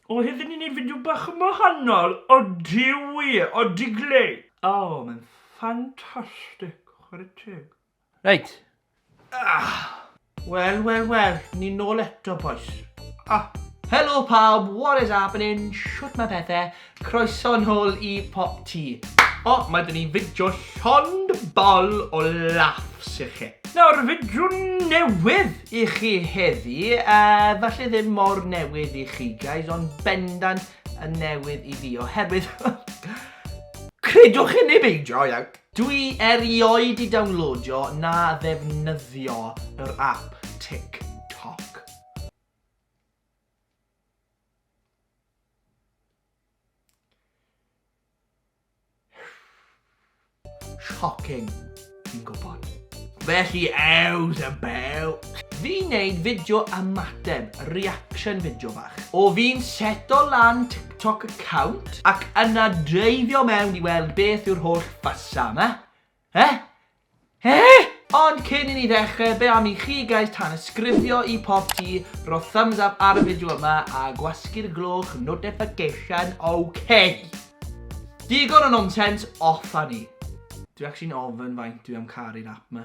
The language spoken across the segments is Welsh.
O, hefyd ni'n neud fideo bach yn wahanol. Odi wir, odi glei. O, mae'n ffantastig, chwarae teg. Reit. Ah! Wel, wel, wel, ni'n nôl eto, boys. Ah! Helo pawb, what is happening? Shwt mae pethau? Croeso nôl i Pop Tee. O, mae dyn ni fideo llond bol o laughs i chi. Nawr, fideo newydd i chi heddi, uh, falle ddim mor newydd i chi guys, ond bendant yn newydd i fi, oherwydd... Credwch i ni beidio, iawn. Dwi erioed i downloadio na ddefnyddio yr app TikTok. Shocking. Fi'n gwybod. Felly ews a bew. Fi neud fideo ymateb, reaction fideo fach. O fi'n seto lan TikTok account ac yna dreifio mewn i weld beth yw'r holl fasa yma. Eh? Eh? Ond cyn i ni ddechrau, be am i chi guys tanysgrifio i Popty, rho thumbs up ar y fideo yma a gwasgu'r gloch notification, ok? Digon o nonsense, off â ni. Dwi actually'n ofyn faint dwi am caru'r app ma.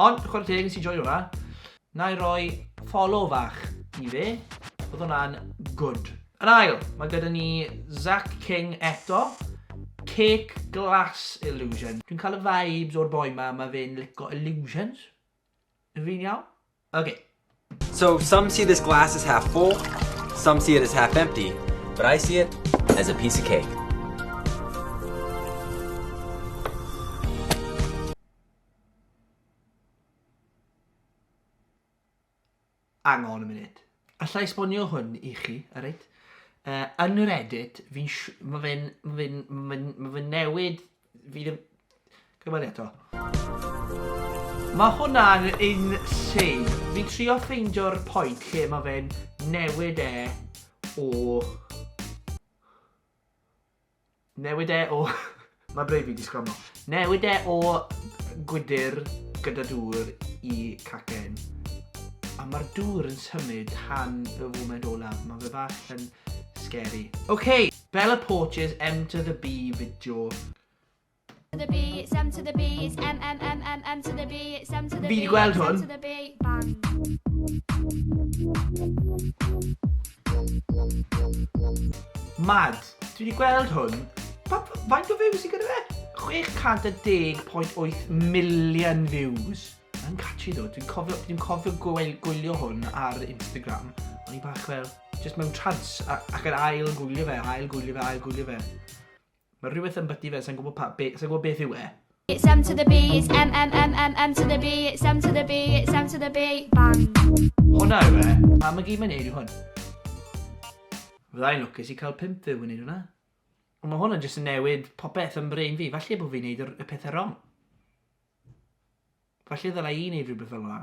Ond chware teg nes i joio hwnna. Na i roi follow fach i fe. Oedd hwnna'n good. Yn ail, mae gyda ni Zach King eto. Cake Glass Illusion. Dwi'n cael y vibes o'r boi ma, mae fe'n lico illusions. Yn fi'n iawn? Okay. So some see this glass as half full, some see it as half empty, but I see it as a piece of cake. Hang on a minute. Alla i esbonio hwn i chi, alright? Uh, yn yr edit, fi'n... Mae fe'n... Mae fe'n... Mae fe'n... Mae fe'n newid... Fi ddim... Gwybod eto. Mae hwnna'n insane. Fi'n trio ffeindio'r pwynt lle mae fe'n newid e o... Newid e o... Mae brain fi 'di sgramo. Newid e o gwydr gyda dŵr i cacen. A mae'r dŵr yn symud tan fy foment olaf. Mae fe bach yn scary. OK, Bella Porches M to the B fideo. to the B, it's M to the B, it's M, M, M, M, M to the B, it's M to the B. Fi di gweld hwn. M to the B, bang. Mad. Dwi wedi gweld hwn. Faint o views i gyda fe? 610.8 million views. Yn catchy ddo. Dwi'n cofio, dwi cofio gweil, gwylio hwn ar Instagram. O'n i bach fel, just mewn trans, ac yn ail gwylio fe, ail gwylio fe, ail gwylio fe. Mae rhywbeth yn byty fe, sa'n gwybod pa... be... sa'n gwybod beth yw e. It's M to the B, it's M, M, M, M, M to the B, it's M to the B, it's M to the B, bang. Hwna yw e. Pa mae gyd mae'n neud yw hwn. Fyddai'n lwcus i cael pimp fyw yn neud hwnna. Ond mae hwnna jyst yn newid popeth yn brain fi. Falle bod fi'n neud y pethau wrong. Falle ddylai i neud rhywbeth fel hwnna.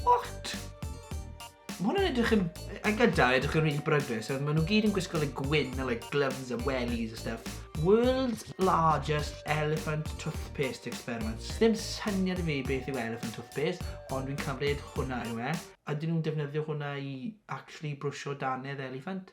What? Ma' hwn yn edrych yn... A gyda, edrych yn rili brydus. Maen nhw gyd yn gwisgo like gwyn a like gloves a wellies a stuff. World's largest elephant toothpaste experiment. Ddim syniad i fi beth yw elephant toothpaste, ond dwi'n cymryd hwnna yw e. A dyn nhw'n defnyddio hwnna i actually brwsio danedd elephant?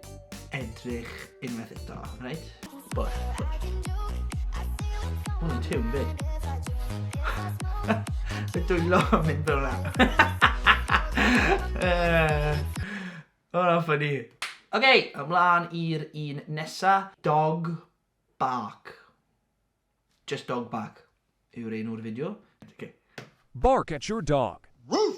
edrych unwaith eto, right? Bwll, Mae'n tiwn fyd. Y dwylo yn mynd fel yna. Hwna ffynnu. Ok, ymlaen i'r un nesa. Dog bark. Just dog bark yw'r un o'r fideo. Okay. Bark at your dog. Woof!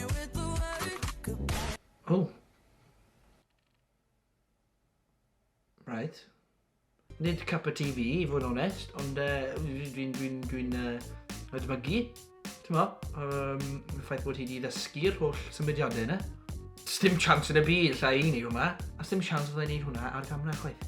Oh. Right. Nid cup o TV, i fod yn onest, ond uh, dwi'n dwi'n dwi'n dwi'n uh, edmygu, ti'n mo, um, y ffaith bod hi wedi ddysgu'r holl symudiadau yna. Sdim chance yn y byd lle i ni hwnna, a sdim chance fydda i'n neud hwnna ar gamera chwaith.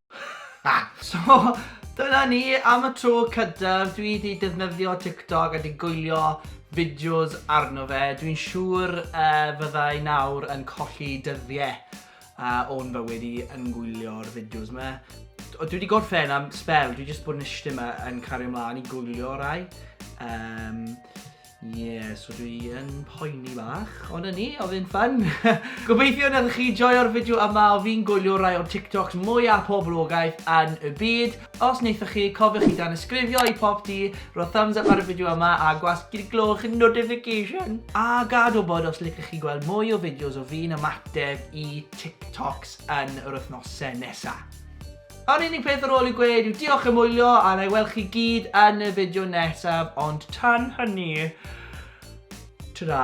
So, dyna ni am y tro cydaf, dwi di defnyddio TikTok a di gwylio fideos arno fe, dwi'n siŵr uh, fydda i nawr yn colli dyddiau uh, o'n fywyd i yn gwylio'r fideos yma. Dwi wedi gorffen am spel, dwi wedi bod yn eisiau yma yn cario ymlaen i gwylio rai. Um, Ie, so dwi yn poeni bach, ond yn ni, oedd yn ffyn. Gobeithio nad ydych chi joio'r fideo yma o fi'n gwylio rai o'r TikToks mwyaf poblogaeth yn y byd. Os wnaethoch chi, cofiwch i danysgrifio i pop di, rhoi thumbs up ar y fideo yma a gwasgu'r gloch notification. A gad wybod os licwch chi gweld mwy o fideos o fi'n ymateb i TikToks yn yr wythnosau nesaf. Yr unig peth ar ôl i'w gweud yw diolch am wylio a wna i weld chi gyd yn y fideo nesaf ond tan hynny, ta-ra!